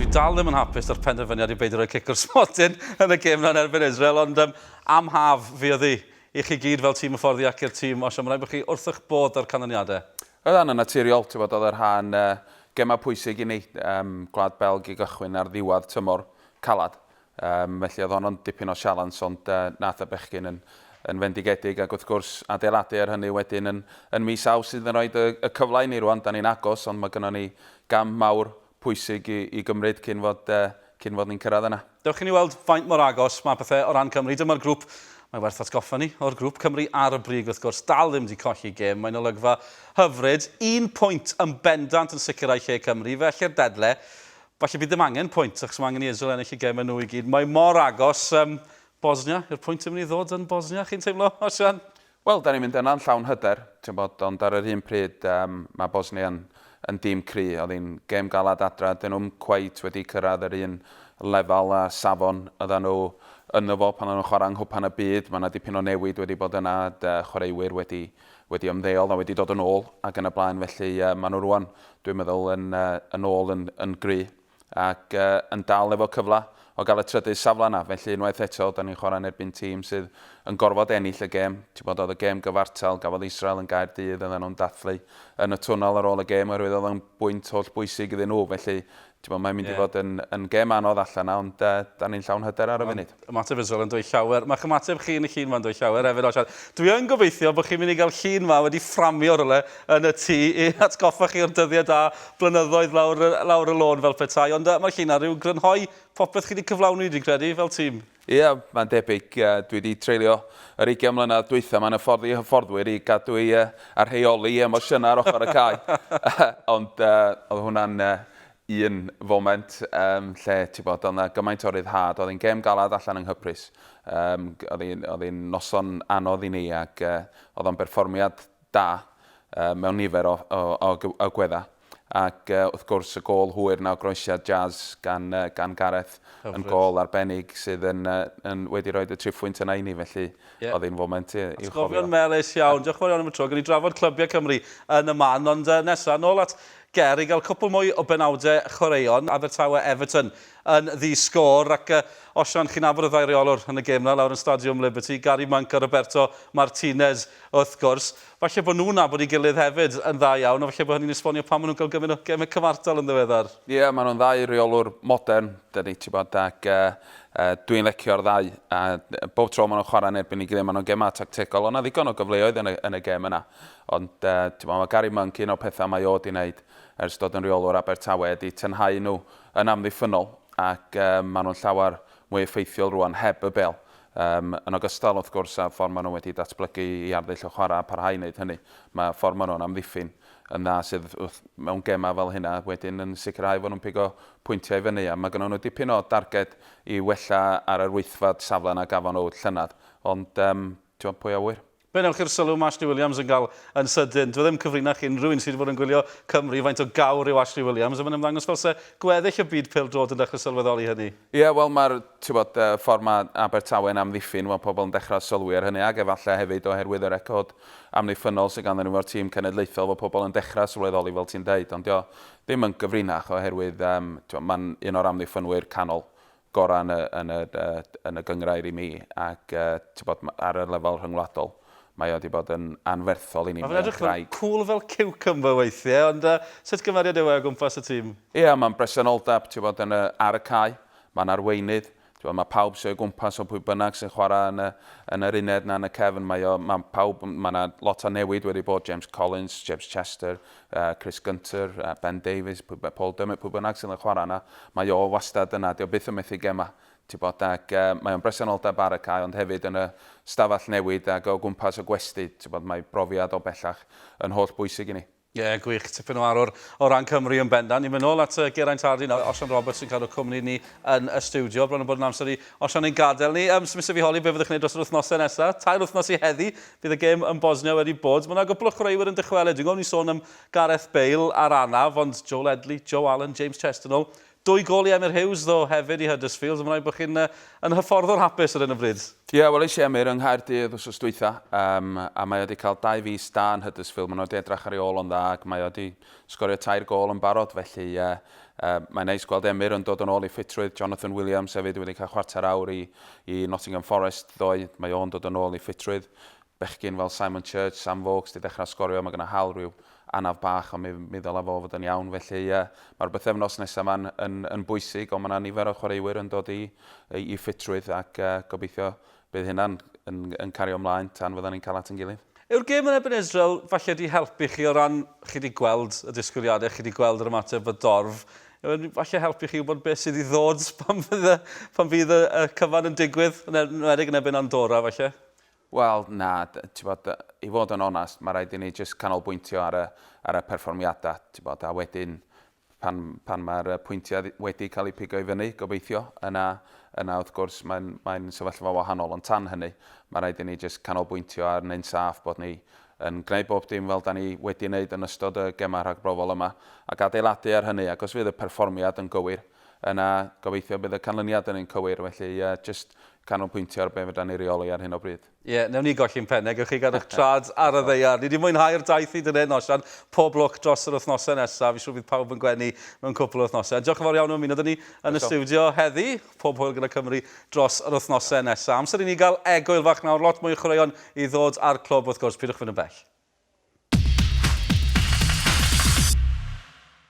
Dwi dal ddim yn hapus 'da'r penderfyniad i beidio rhoi cic o'r smotyn yn y gêm 'na yn erbyn Israel, ond yym, am haf, fuodd hi. I chi gyd fel tîm hyfforddi ac i'r tîm osio, mae'n rhaid bod chi wrth eich bodd 'da'r canlyniadau. Roedd hynna'n naturiol, ti 'bod, oedd y rhan gemau pwysig i ni, yym, Gwlad Belg i gychwyn ar ddiwedd tymor caled, yym, felly oedd honno'n dipyn o sialens, ond yy, nath y bechgyn yn yn fendigedig, ac wrth gwrs, adeiladu ar hynny wedyn yn yn mis Awst sydd yn rhoi y cyfle i ni rwan, 'dan ni'n agos, ond mae gynnon ni gam mawr pwysig i gymryd cyn fod cyn fod ni'n cyrraedd yna. Dewch i ni weld faint mor agos mae pethau o ran Cymru. Dyma'r grŵp. Mae werth atgoffa ni o'r grŵp. Cymru ar y brig wrth gwrs, dal ddim 'di colli gêm. Mae'n olygfa hyfryd. Un pwynt yn bendant yn sicrhau lle Cymru. Felly'r dedle, falle bydd ddim angen pwynt achos mae angen i Israel ennill y gemau nhw i gyd. Mae mor agos. Bosnia yw'r pwynt yn mynd i ddod yn Bosnia, chi'n teimlo, Osian? Wel, dan ni'n mynd yna yn llawn hyder, ti'n gwybod, ond ar yr un pryd yym mae Bosnia yn yn dîm cry', oedd hi'n gêm galed adra, 'dyn nhw'm cweit wedi cyrraedd yr un lefel a safon oeddan nhw ynddo fo pan oeddan nhw'n chwarae yng Nghwpan y Byd, mae 'na dipyn o newid wedi bod yna, chwaraewyr wedi wedi ymddeol a wedi dod yn ôl ac yn y blaen, felly yy maen nhw rŵan dwi'n meddwl yn yy yn ôl yn yn gry'. ac yn dal efo cyfle o gael y trydydd safle yna. Felly unwaith eto, da ni'n chwarae yn erbyn tîm sydd yn gorfod ennill y gêm. Ti'n gwybod, oedd y gêm gyfartal, gafodd Israel yn Gaerdydd, oedden nhw'n dathlu yn y twnnel ar ôl y gêm oherwydd oedd o'n bwynt holl bwysig iddyn nhw. Felly, ti'n gwybod, mae'n mynd i fod yn gêm anodd allan 'na, ond da ni'n llawn hyder ar y funud. Ymateb Israel yn dweud llawer. Mae'ch ymateb chi yn y llun yma'n dweud llawer hefyd o siarad. Dwi yn gobeithio bod chi'n mynd i gael llun yma wedi fframio rhywle yn y tŷ i atgoffa chi o'r dyddiau da blynyddoedd lawr, lawr y lôn fel petai. Ond uh, mae llun ar ryw grynhoi popeth chi wedi cyflawni, dwi'n credu, fel tîm. Ie, yeah, mae'n debyg. Uh, dwi wedi treulio yr 20 mlynedd dwytha mae'n hyffordd i hyfforddwyr i gadw i uh, a rheoli emosiynau ar ochr y cae. Ond uh, oedd hwnna'n uh, un foment um, lle, ti'n bod, oedd yna gymaint o ryddhad. Oedd hi'n gêm galad allan yng Nghyprus. Um, oedd hi'n noson anodd i ni ac uh, oedd o'n berfformiad da uh, mewn nifer o, o, o, o gwedda. Ac uh, wrth gwrs y gol hwyr na o groesiad jazz gan, uh, gan Gareth Hyfryd. yn gol arbennig sydd yn, uh, yn wedi rhoi y triphwynt yna i ni, felly yeah. oedd hi'n foment i'w chofio. Atgofion melus iawn. Diolch yn fawr iawn am y tro. Gan i drafod clybiau Cymru yn y man, ond uh, nesaf, nôl at Ger i gael cwpl mwy o benawdau chwaraeon Abertawe Everton yn ddi sgôr ac yy osian chi'n nabod y ddau reolwr yn y gêm na lawr yn Stadiwm Liberty, Gary Monk a Roberto Martinez wrth gwrs. Falle bod nhw'n nabod ei gilydd hefyd yn dda iawn a falle bod hynny'n esbonio pam maen nhw'n cael gymaint o gemau cyfartal yn ddiweddar. Ie, maen nhw'n ddau reolwr modern, dyna ni, tibod, ac yy yy dwi'n lecio'r ddau a bob tro maen nhw'n chwarae yn erbyn ei gilydd maen nhw'n gemau tactegol, oedd 'na ddigon o gyfleoedd yn y yn y gêm yna. Ond, t'mo, mae Gary Monk, un o'r pethau mae o 'di wneud ers dod yn rheolwr Abertawe ydi tynhau nhw yn amddiffynnol ac maen nhw'n llawer mwy effeithiol rŵan heb y bêl. Yym, yn ogystal, wrth gwrs, â'r ffordd maen nhw wedi datblygu i arddull y chwarae a parhau i wneud hynny, mae ffordd maen nhw'n amddiffyn yn dda sydd wrth, mewn gemau fel hynna, wedyn yn sicrhau fod nhw'n pigo pwyntiau i fyny. A mae gennyn nhw dipyn o darged i wella ar yr wythfed safle na gafon nhw llynedd. Ond, yym, t'mo, pwy a ŵyr? Fe wnewch chi'r sylw ma' Ashley Williams yn cael yn sydyn. Dyw e ddim yn cyfrinach ac unrhyw un sy' 'di bod yn gwylio Cymru, faint o gawr yw Ashley Williams, a mae'n ymddangos fel 'se gweddill y byd pêl-droed yn dechrau sylweddoli hynny. Ie, wel mae'r, tibod, ffordd ma' Abertawe yn amddiffyn, wel, pobl yn dechrau sylwi ar hynny, ac efallai hefyd oherwydd y record amddiffynnol sydd ganddyn nhw efo'r tîm cenedlaethol, fod pobl yn dechrau sylweddoli, fel ti'n deud, ond dyw o ddim yn gyfrinach oherwydd, yym, tibod, mae'n un o'r amddiffynwyr canol gorau yn y, yn y, yn y gynghrair i mi, ac tybod, ar y lefel rhyngwladol, mae o wedi bod yn anferthol i ni. Mae fe'n edrych yn cŵl fel ciwcymbyr weithiau, ond sut gymeriad yw e o gwmpas y tîm? Ia, mae'n bresenoldeb, tybod, yn y, ar y cae, mae'n arweinydd, tybod, mae pawb sy o'i gwmpas o pwy bynnag sy'n chwarae yn y, yn yr uned na yn y cefn, mae o, mae pawb, mae yna lot o newid wedi bod, James Collins, James Chester, Chris Gunter, Ben Davies, Paul Dummett, pwy bynnag sydd yn chwarae yna, mae o wastad yna, dio byth yn methu gemau. Bod, ac, mae o'n bresenoldeb ar y cae ond hefyd yn y stafell newid ac o gwmpas y gwesty. Bod, mae brofiad o bellach yn holl bwysig i ni. Ie, yeah, gwych. Tipyn o arwr o ran Cymru yn bendant. Ni'n mynd nôl at Geraint Hardy nawr. Osian Roberts yn cadw cwmni ni yn y studio. Bron yn bod yn amser i Osian ein gadael ni. Um, Smith fi holi, be fyddwch chi'n gwneud dros yr wythnosau nesaf? Tair wythnos i heddi, Bydd y gêm yn Bosnia wedi bod. Mae 'na gwpl o chwaraewyr yn dychwelyd. Dwi'n gweld ni'n sôn am Gareth Bale a'r anaf, ond Joe Ledley, Joe Allen, James Chesternoll. Dwy gol i Emyr Hughes ddo hefyd i Huddersfield. Mae'n rhaid bod chi'n yn hyfforddwr hapus ar hyn o bryd. Ie, weles i Emyr yng Nghaerdydd wsos dwytha, a mae o wedi cael dau fis da yn Huddersfield. Mae nhw wedi edrach ar ei ôl o'n dda ac mae o wedi Sgorio tair gôl yn barod, felly ie. Mae'n neis gweld Emyr yn dod yn ôl i ffitrwydd. Jonathan Williams hefyd wedi cael chwarter awr i i Nottingham Forest ddoe. Mae o'n dod yn ôl i ffitrwydd. Bechgyn fel Simon Church, Sam Vokes 'di dechrau sgorio, mae gyda Hal rhyw anaf bach ond mi mi ddyla fo fod yn iawn. Felly ie, mae'r bythefnos nesa 'ma'n yn yn bwysig ond mae 'na nifer o chwaraewyr yn dod i i ffitrwydd ac gobeithio Bydd hynna yn, yn, yn cario ymlaen tan fyddan ni'n cael at yn gilydd. Yw'r gêm yn erbyn Israel falle 'di helpu chi o ran, chi 'di gweld y disgwyliadau, chi 'di gweld yr ymateb y dorf, yw e'n falle helpu chi wybod beth sydd i ddod pan fydd y, pan fydd y, y cyfan yn digwydd, yn enwedig yn erbyn Andorra falle? Wel, na, ti'n bod, i fod yn onest, mae rhaid i ni jyst canolbwyntio ar y, ar y perfformiadau, ti'n bod, a wedyn pan, pan mae'r pwyntiau wedi cael eu pigo i fyny, gobeithio, yna, yna wrth gwrs mae'n mae sefyllfa wahanol, ond tan hynny mae rhaid i ni jyst canolbwyntio ar neu'n saff bod ni yn gwneud bob dim fel da ni wedi wneud yn ystod y gemau rhagbrofol yma ac adeiladu ar hynny ac os fydd y perfformiad yn gywir yna gobeithio bydd y canlyniad yn un cywir felly uh, jyst canolbwyntio ar be fydda ni reoli ar hyn o bryd. Ie, yeah, newn ni golli'n penne, gwych chi gael eich trad ar y ddeiar. Ni wedi mwynhau'r daith i dynedd nosion, pob lwc dros yr wythnosau nesaf, fi siŵr bydd pawb yn gwenu mewn cwpl o wythnosau. Diolch yn fawr iawn am ymuno dyn ni yn y studio heddi, pob hwyl gyda Cymru dros yr wythnosau nesaf. Amser i ni gael egwyl fach nawr, lot mwy o chwaraeon i ddod ar clwb wrth gwrs, pidwch fynd yn bell.